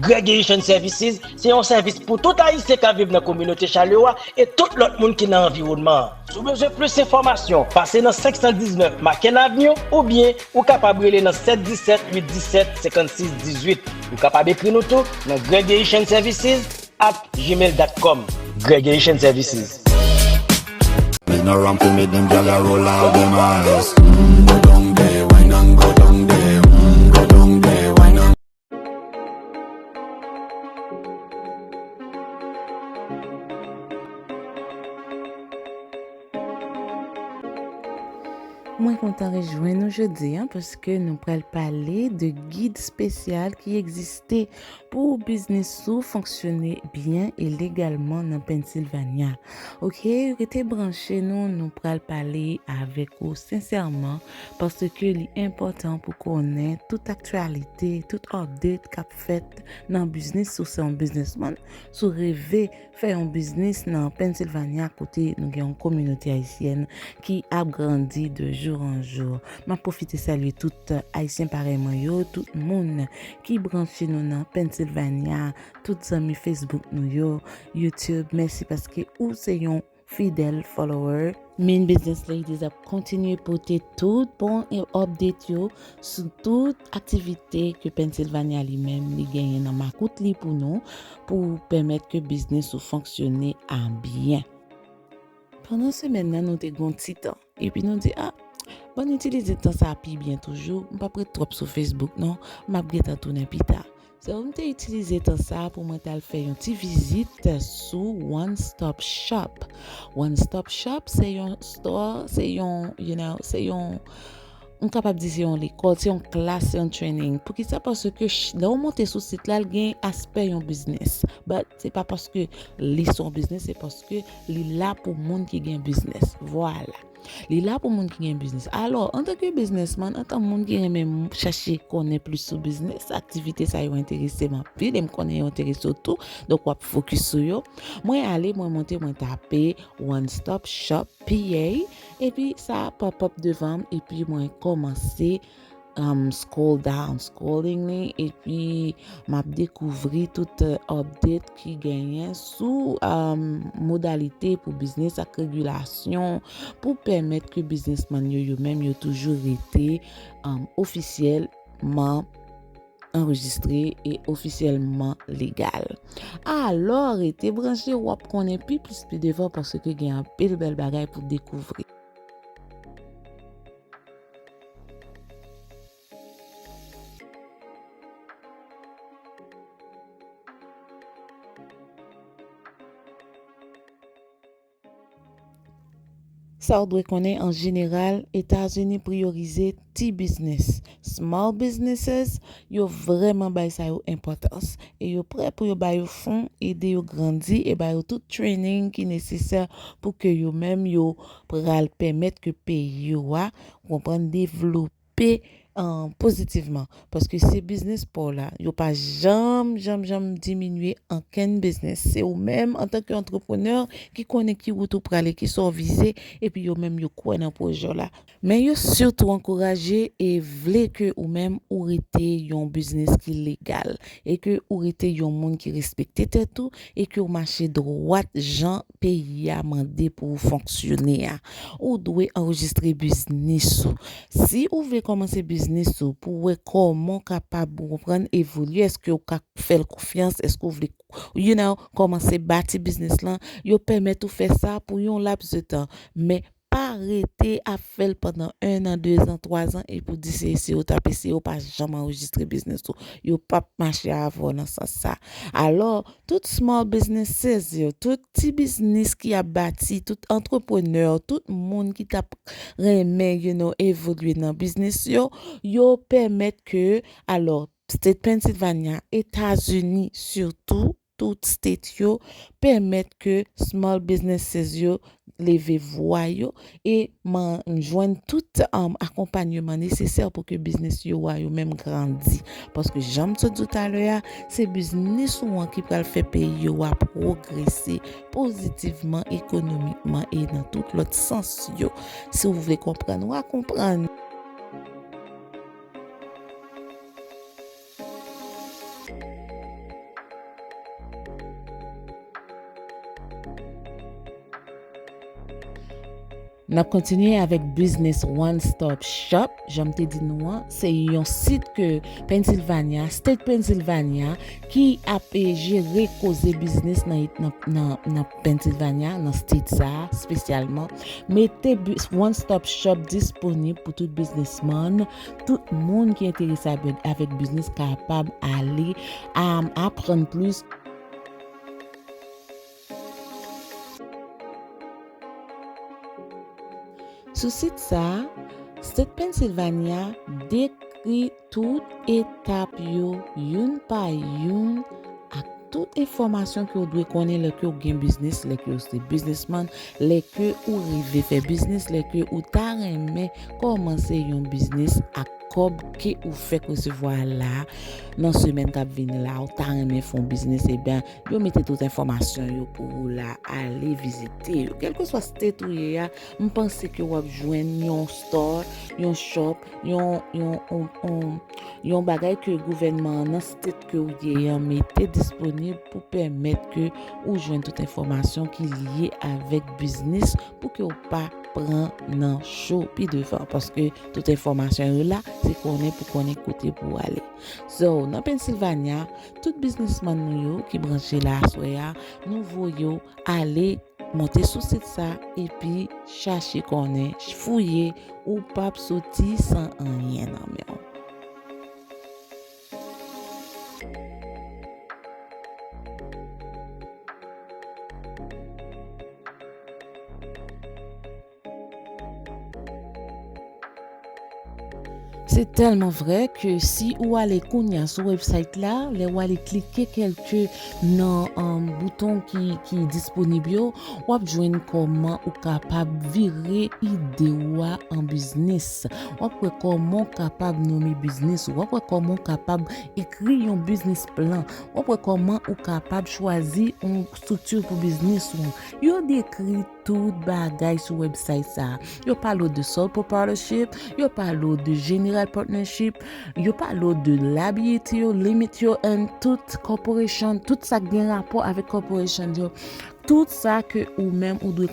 Graduation Services se yon sèvis pou tout Ayisyen k ap viv nan kominote Chalewa e tout lòt moun ki nan anviwònman an. Si w bezwen plis enfòmasyon, pase nan 519 Macken Avenue oubyen ou kapab rele nan 717 817 56 18. Ou kapab ekri nou tou nan Graduation Services at gmail dot com. Graduation Services. Bend around fi me dem gyal a roll out dem eyes Umm go down there, wine and go down there Umm go down there, wine and. Mwen kontan rejwen nou jodi an paske nou pral pale de gid spesyal ki egziste pou biznis sou fonksyone byen e legalman nan Pennsylvania. Ok, rete branche nou, nou pral pale avèk ou sensèman paske li enpòtan pou konnen tout aktyalite, tout update kap fèt nan biznis si w se yon biznisman, si w reve fè yon biznis nan Pennsylvania kote nou gen yon kominote ayisyèn ki ap grandi de jou an jou. M ap pwofite salye tout ayisyen parèy mwen yo, tout moun ki branche nou nan Pennsylvania, tout zanmi Facebook nou yo, YouTube, mèsi paske ou se yon. fidèl follower. Min Business Ladies ap kontinye pote tout bon e update yo sou tout aktivite ke Pennsylvania li menm li genyen nan makout li pou nou pou pèmèt ke biznis ou fonksyone a byen. Pandan semèn nan nou te gon ti tan. Epi nou di, a, bon n itilize tan sa a pi byen toujou, m p ap ret twòp sou Facebook non, m ap gentan tounen pita. So, m te itilize tan sa a pou mwen t al fè yon ti vizit sou One Stop Shop. One Stop Shop se yon store, se yon, you know, se yon, m kapab di se yon lekòl, se yon klas, se yon training. Poukisa? Paske lè ou monte sou sit la, l gen aspè yon biznis. But. Se pa paske li son business se paske li la pou moun ki gen business. Vwala. Li la pou moun ki gen business. Alò, antan ke business man, antan moun ki renmen chache konnen plis sou business, aktivite sa yo enterese m anpil e m konnen yo enterese w tou, donk w ap fokis sou yo. Mwen ale, mwen monte, mwen tape One Stop Shop PA epi sa pop up devan m epi mwen kòmanse. M scroll down scrolling li epi m ap dekouvri tout update ki genyen sou modalite pou biznis ak regulasyon pou pèmèt ke biznisman yo yo menm yo toujou rete ofisyèlman anrejistre e ofisyèlman legal. Alò rete branche w ap konnen pi plis pi devan paske gen anpil bèl bagay pou dekouvri. Sa ou dwe konnen an jeneral, Etazini priyorize ti biznis, small businesses, yo vrèman bay sa yo enpòtans e yo prè pou yo ba yo fon, ede yo grandi e ba yo tout training ki nesesè pou ke yo menm yo pral pèmèt ke peyi yo a konprann devlope pozitivman paske se biznis paw la yo pa janm janm janm diminye ankenn biznis se ou menm antanke antreprenè ki konnen ki wout ou prale ki sa w vize epi yo menm yo kwè nan pwojè w la men yo sitou ankouraje e vle ke ou menm ou rete yon biznis ki legal e ke ou rete yon moun ki respekte tèt ou e ke ou mache dwat jan peyi a mande pou ou fonksyone a, ou dwe anrejistre biznis ou. Si ou vle kòmanse biznis ou pou wè kòman ou kapab ou konprann evolye, eske ou ka fè l konfyans, eske ou vle you know kòmanse bati biznis lan, yo pèmèt ou fè sa pou yon laps de tan. Men Pa rete ap fèl pandan 1 an 2 zan 3 zan epi w di se eseye w tap eseye w pa janm anrejistre biznis ou yo pap mache avè w nan sans sa alò tout small businesses yo tout ti biznis ki ap bati tout antreprenè tout moun ki tap renmen you know evolye nan biznis yo yo pèmèt ke alò state Pennsylvania etazini sitou Tout state yo pèmèt ke small businesses yo leve vwa yo e man jwenn tout akonpanyeman nesesè pou ke biznis yo a yo menm grandi. Paske jan m sot di w talè a, se biznis ou an ki pral fè peyi yo a pwogrese pozitivman, ekonomikman e nan tout lòt sans yo. Si w vle konprann, wa konprann. N ap kontinye avèk Business One Stop Shop, jan m te di nou an, se yon sit ke Pennsylvania, State Pennsylvania, ki ap e jere koze biznis nan Pennsylvania, nan state sa, spesyalman, mete One Stop Shop disponib pou tout biznisman, Tout moun ki enterese avèk biznis kapab ale aprann plis. Sou sit sa, State Pennsylvania dekri tout etap yo youn pa youn ak. Tout enfòmasyon ke ou dwe konnen lè ke ou gen biznis, lè ke ou se biznisman, lè ke ou rive fè biznis, lè ke ou ta renmen kòmanse yon biznis ak kòb ke ou fèk resevwa la a, nan semèn k ap vini la a ou ta renmen fè yon biznis eben yo mete tout enfòmasyon yo pou ou la a, ale vizite yo. Kèlkeswa state ou ye a, m panse ke w ap jwenn yon store, yon shop, yon yon yon bagay ke gouvènman an nan state ke ou genyen an mete disponib pou pèmèt ke ou jwenn tout enfòmasyon ki lye avèk biznis pou ke ou pa pran nan cho pi devan paske tout enfòmasyon yo la se konnen pou konnen kote pou ale so nan Pennsylvania tout biznisman nou yo ki branche la aswè a nou voye ou ale monte sou sit sa epi chache konnen fouye ou pap soti san anyen nan men ou. Se tèlman vrè ke si ou ale kounya sou website la, lè ou ale klike kelke Nan bouton ki disponib yo, w ap jwenn kòman ou kapab vire ide ou a an biznis. W ap wè kòman ou kapab nome biznis ou. W ap wè kòman ou kapab ekri yon biznis plan. W ap wè kòman ou kapab chwazi yon estrikti pou biznis ou an. Yo dekri. Tout bagay sou website sa. Yo pale w de sole proprietorship, yo pale w de general partnership, yo pale w de liability yo, limit yo and tout corporation, tout sa k gen rapò avèk corporation yo. Tout sa ke ou menm ou dwe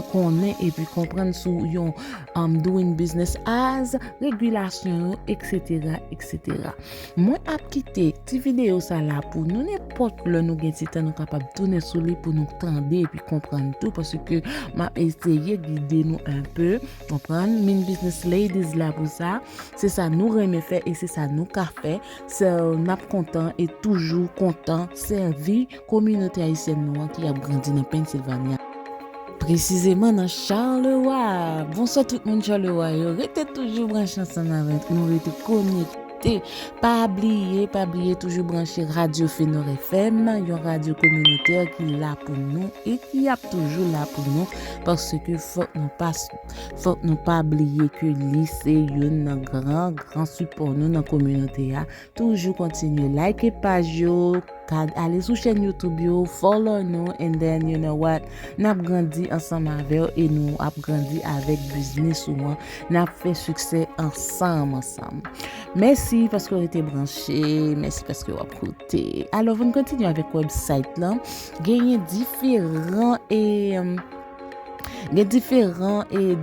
konnen epi konprann sou yon um, doing business as, regulasyon yo, etc. Etc. Mwen ap kite ti videyo sa la pou nou nenpòt lè nou gen ti tan nou kapab tounen sou li pou nou tande epi konprann tou paske m ap eseye gide nou enpe konprann min business ladies la pou sa se sa nou renmen fè e se sa nou ka fè so n ap kontan e toujou kontan sèvi kominote ayisyèn nou an ki ap grandi nan Pennsylvania presizeman nan Charleroi bonswa tout moun Charleroi yo rete toujou branche ansanm avèk nou rete konekte. Pa bliye, pa bliye toujou branche Radyo Fenor FM, yon radyo kominotè ki la pou nou e ki ap toujou la pou nou paske fòk nou pa fòk nou pa bliye ke li se youn nan gran gran sipò nou nan kominote a. Toujou kontinye like paj yo. Tag ale sou chèn YouTube yo, follow nou and then you know what, nap grandi ansanm avèw e nou ap grandi avèk biznis ou an, nap fè siksè ansanm ansanm. Mèsi paske w rete branche, mèsi paske wap koute. Alò vin kontinye avèk website lan, genyen diferan e. Gen diferan e,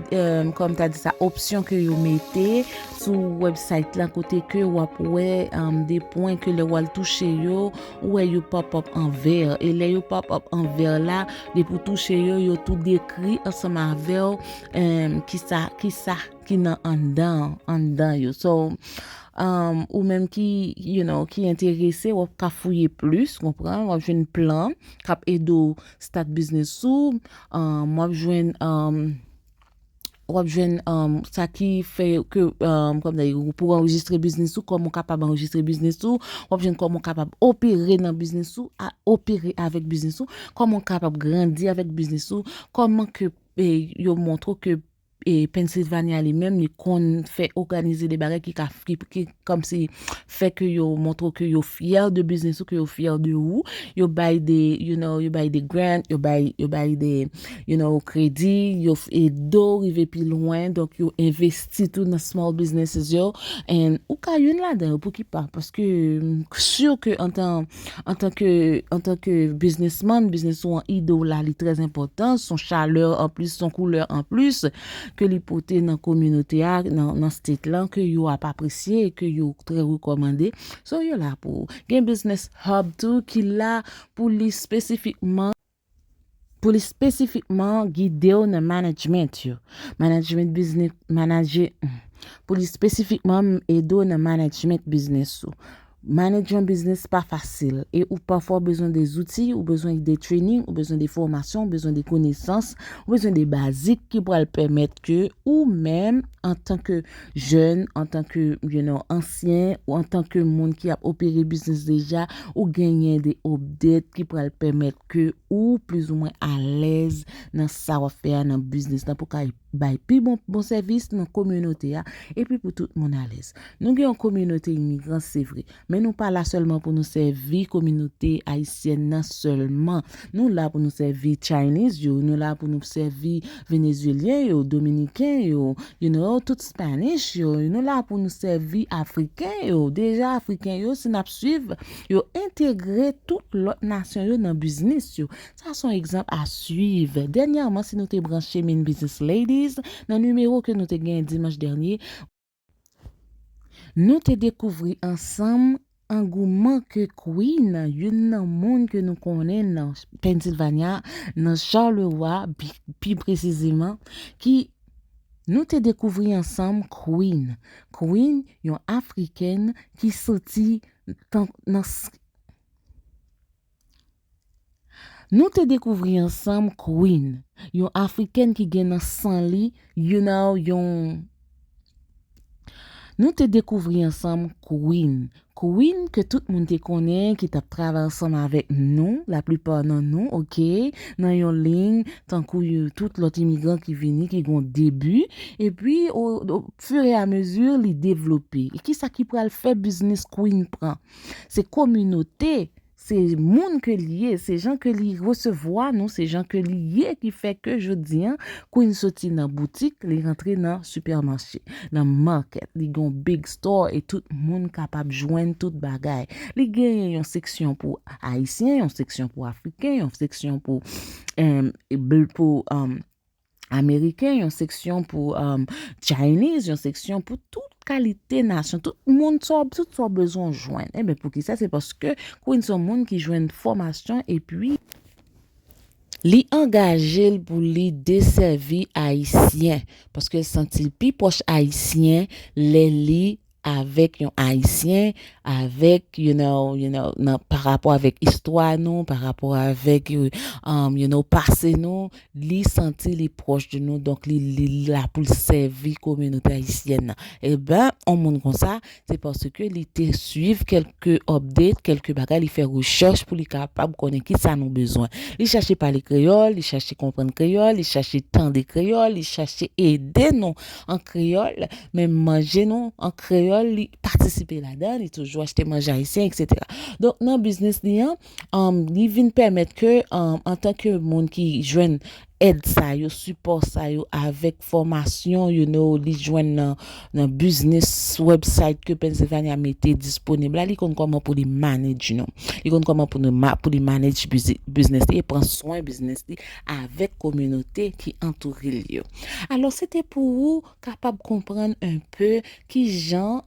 kòm ta di sa, opsyon ke yo mete sou website la kote ke wap wè de pwen ke lè wal touche yo, ou wè yo pop up an vert. E lè yo pop up an vert la, depi ou touche yo, yo tou dekri ansanm avèw ki sa, ki sa ki nan anndan, anndan yo. So, ou menm ki, you know, ki enterese, wap ka fouye plis, konprann, wap jwenn plan kap ede w. Start business ou um, wap jwenn um, wap jwenn um, sa ki fè ke um, kòm dèy, pou w anrejistre biznis ou, kòman w kapab anrejistre biznis ou, wap jwenn kòman w kapab opere nan biznis ou, a opere avèk biznis ou, kòman w kapab grandi avèk biznis ou, kòman ke e, yo montre w ke Pennsylvania li menm li konn fè oganize de bagay ki ka ki kom si fè ke yo montre w ke yo fyè de biznis ou ke yo fyè de ou yo bay de you know yo bay de grant yo bay yo bay de you know kredi yo ede w rive pi lwen donk yo envesti tou nan small businesses yo and ou ka youn ladan yo pouki pa paske m sur ke antan antanke antanke biznisman biznis ou an ide w la li trè enpòtan son chalè anplis son koulè anplis ke li pote nan kominote a nan state lan ke yo ap apresye ke yo trè rekòmande so yo la pou gen biznis hub tou ki la pou li spesifikman pou li spesifikman gide w nan management yo management business manager pou li spesifikman ede w nan management business ou manage yon business pa fasil e ou pafwa bezwen de zouti ou bezwen de training ou bezwen de fòmasyon ou bezwen de konesans ou bezwen de bazik ki pral pèmèt ke ou menm antanke Jèn, antan ke you know ansyen, ou antan ke moun ki ap opere biznis deja, ou genyen de update ki pral pèmèt ke ou plizoumwen alèz nan sa wap fè a nan biznis lan pou ka bay pi bon bon sèvis nan kominote a epi pou tout moun alèz. Nou gen yon kominote imigran se vre, Men nou pa la sèlman pou nou sèvi kominote ayisyèn nan sèlman. Nou la pou nou sèvi Chinese yo, nou la pou nou sèvi Venezuelyen yo, Dominiken yo, you know, tout Spanish yo, nou la pou nou sèvi Afriken yo, deja Afriken yo si n ap swiv yo entegre tout lòt nasyon yo nan biznis yo. Sa son egzanp a swiv. Dènyèman si nou te branche min Business Ladies nan nimewo ke nou te genyen dimanch dènye, Nou te dekouvri ansanm angouman ke Queen, youn nan moun ke nou konnen nan Pennsylvania, nan Charleroi pi presizeman, ki Nou te dekouvri ansanm Queen. Queen, yon Afrikèn ki soti nan. Nou te dekouvri ansanm Queen, yon Afrikèn ki gen nan san li, you know, yon. Nou te dekouvri ansanm Queen, Queen ke tout moun te konnen ki t ap travay ansanm avèk nou, laplipa nan nou, oke, nan yon liy, tankou tout lòt imigran ki vini ki gen yon debi, epi o fur et à mesure li devlope. E kisa ki pral fè biznis Queen pran? Se kominote Se moun ke li ye, se jan ke li resevwa nou, se jan ke li ye ki fè ke jodi an, Queen soti nan boutik, li rantre nan sipèmache, nan market, li gen yon big store e tout moun kapab jwenn tout bagay. Li genyen yon seksyon pou Ayisyen, yon seksyon pou Afriken, yon seksyon pou, pou, Ameriken, yon seksyon pou Chinese, yon seksyon pou tout kalite nasyon, tout moun sa w, tout sa w bezwen w jwenn. E men pou ki sa? Se paske Queen son moun ki jwenn fòmasyon e pi li angaje l pou li desèvi Ayisyen. Paske l santi l pi pwòch Ayisyen lè li avèk yon ayisyen avèk you know you know nan pa rapò avèk istwa nou pa rapò avèk you know pase nou li santi li pwòch de nou donk li li la pou l sèvi kominote ayisyèn nan eben on moun konsa se paske li te swiv kèlke update kèlke bagay li fè rechèch pou li kapab konnen kisa nou bezwen li chache pale kreyòl li chache konprann kreyòl li chache tande kreyòl li chache ede nou an kreyòl, menm manje nou an kreyòl li patisipe ladan, li toujou achte manje ayisyen eksetera. Donk nan biznis li an, li vin pèmèt ke antanke moun ki jwenn èd sa yo, sipò sa yo avèk fòmasyon you know li jwenn nan biznis website ke Pennsylvania mete disponib la, li konn kòman pou li manage nou. Li konn kòman pou li manage biznis li e pran swen biznis li. avèk kominote ki antoure l yo. Alò se te pou ou kapab konprann enpe ki jan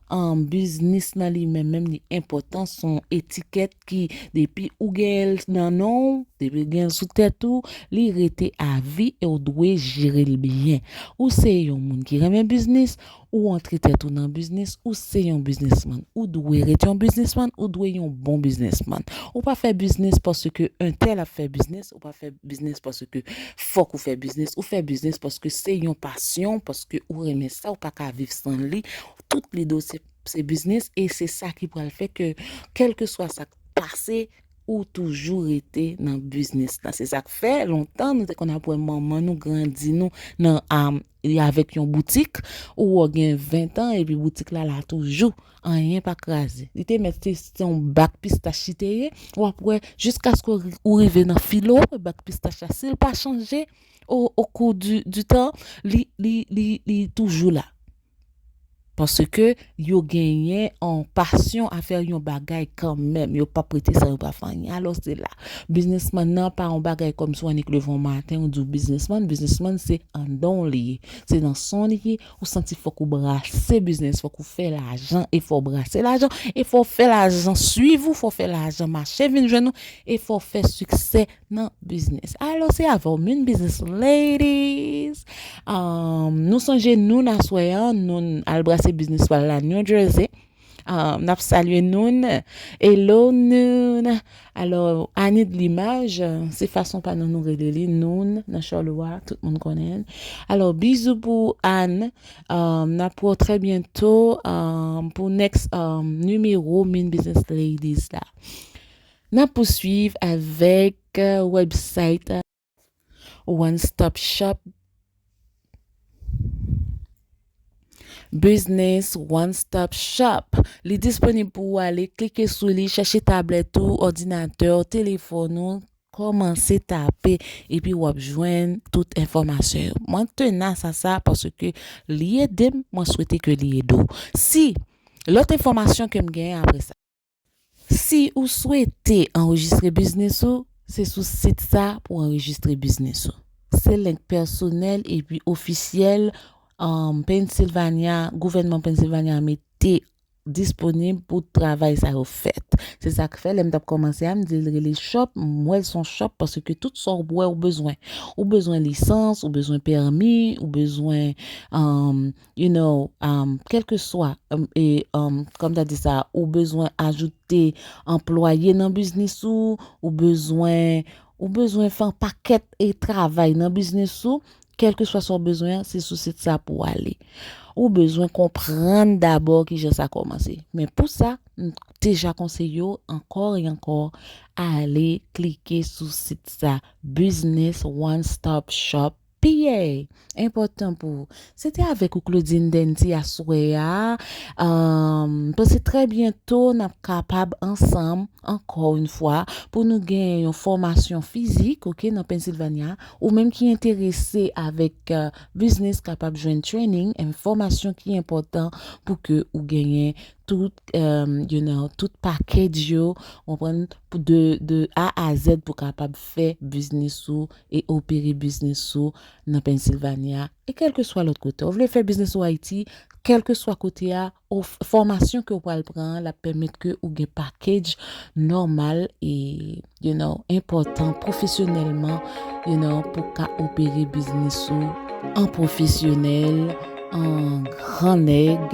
biznis nan li menm menm li enpòtan, s on etikèt ki depi ou genyen l nan non w, depi w genyen l sou tèt ou, li rete avi e w dwe jere l byen. Ou se yon moun ki renmen biznis, Ou antre tèt ou nan biznis, ou se yon biznismann. Ou dwe ret yon biznismann, ou dwe yon bon biznismann. Ou pa fè biznis paske entèl ap fè biznis, ou pa fè biznis paske fòk ou fè biznis. Ou fè biznis paske se yon pasyon, paske ou renmen sa, ou pa ka viv san li. Tout lide w se biznis e se sa ki pral fè ke kèlkeswa sa k pase, ou toujou rete nan biznis la. Se sa k fè lontan nou te konn ap wè manman nou grandi nou nan Li avèk yon boutik, ou wè w gen 20 tan epi boutik la la toujou, anyen pa kraze. Li te mèt se yon bak pistach li te ye, w ap wè jiskaske ou rive nan filo w wè bak pistach la si l pa chanje o kou di tan li toujou la. Paske yo genyen on pasyon a fè yon bagay kanmenm, yo pap rete san yo pa fè anyen. Alò se la, biznisman nan pa yon bagay kòm si w annik leve yon maten ou di w biznisman, biznisman se anndan w li ye, se nan san w li ye, ou santi fòk ou brase biznis, fòk ou fè lajan e fò w brase lajan e fò w fè lajan suiv ou, fò w fè lajan mache vin jwenn ou e fò w fè siksè nan biznis alo se avè w min biznis ladies nou sonje nou n aswè an nou n al brase biznis pal la new jersey n ap salye nou n elo nou n alo ani de limaj se fason pa nou nou rele li nou n nan chòlwa tout moun konnen alo bizou pou ani n ap wè w trè byento pou next nimewo min biznis ladies la. N ap pouswiv avèk wèbsayt One Stop Shop Business One Stop Shop Li disponib pou ou ale klike sou li, chèche tablèt ou, òdinatè w, telefòn ou, kòmanse tape epi w ap jwenn tout enfòmasyon yo. Mwen tenas a sa paske li ede m, mwen swete ke li ede w. Si lòt enfòmasyon ke m gen apre sa. Si ou swete anrejistre biznis ou, se sou sit sa pou w anrejistre biznis ou. Se link pèsonèl epi ofisyèl Pennsylvania, gouvènman Pennsylvania a mete disponib pou travay sa yo fèt. Se sa k fè lè m t ap kòmanse a, m di l rele shop, m wè l s on shop paske tout sa w wè ou bezwen. Ou bezwen lisans, ou bezwen pèmi, ou bezwen. you know, um, kèlkeswa, um, e, um, kòm ta di sa, ou bezwen ajoute anplwaye nan biznis ou, ou bezwen, ou bezwen fè an pakèt e travay nan biznis ou, kèlkeswa sa ou bezwen an, se sou sit sa pou ou ale. Ou bezwen konprann dabò ki jan sa kòmanse. Men pou sa, m deja konseye ou ankò e ankò, ale klike sou sit sa, Business One Stop Shop. Piyè! Enpòtan pou ou. Se te avèk ou Claudine Denty aswè a, m panse trè byento n ap kapab ansanm ankò yon fwa pou nou gen yon fòmasyon fizik ok nan Pennsylvania, ou menm ki enterese avèk biznis kapab jwenn training and fòmasyon ki enpòtan pou ke ou genyen tout you know tout package yo ou konprann de a a zèd pou kapab fè biznis ou e opere biznis ou nan Pennsylvania e kèlkeswa lòt kote. Ou vle fè biznis ou Ayiti, kèlkeswa kote a, ou fòmasyon ke ou pral pran an lap pèmèt ke ou gen package nòmal e you know enpòtan pwofesyonèlman you know pou w ka opere biznis ou an pwofesyonèl, an gran nèg,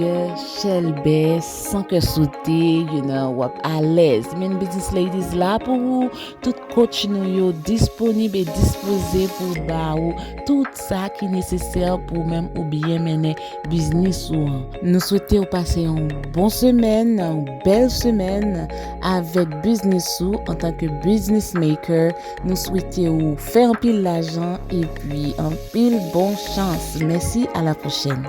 chèlbè, san kè sote, you know wap alèz. Min Business Ladies la pou ou. Tout coach nou yo disponib e dispoze pou ba ou tout sa ki nesesè pou ou menm ou byen mennen biznis ou an. Nou swete ou pase yon bon semèn, yon bèl semèn avèk biznis ou antanke business maker. Nou swete ou fè anpil lajan epi anpil bon chans. Mèsi a la pwochèn.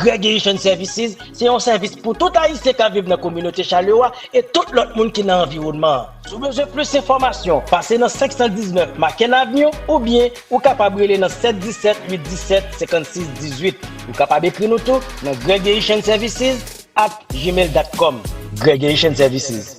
Graduation Services se yon sèvis pou tout Ayisyen k ap viv nan kominote Chalewa e tout lòt moun ki nan anviwònman an. Si w bezwen plis enfòmasyon, pase nan 519 Macken Avenue oubyen ou kapab rele nan 717 817 56 18. Ou kapab ekri nou tou nan Graduation Services at gmail dot com. Graduation Services.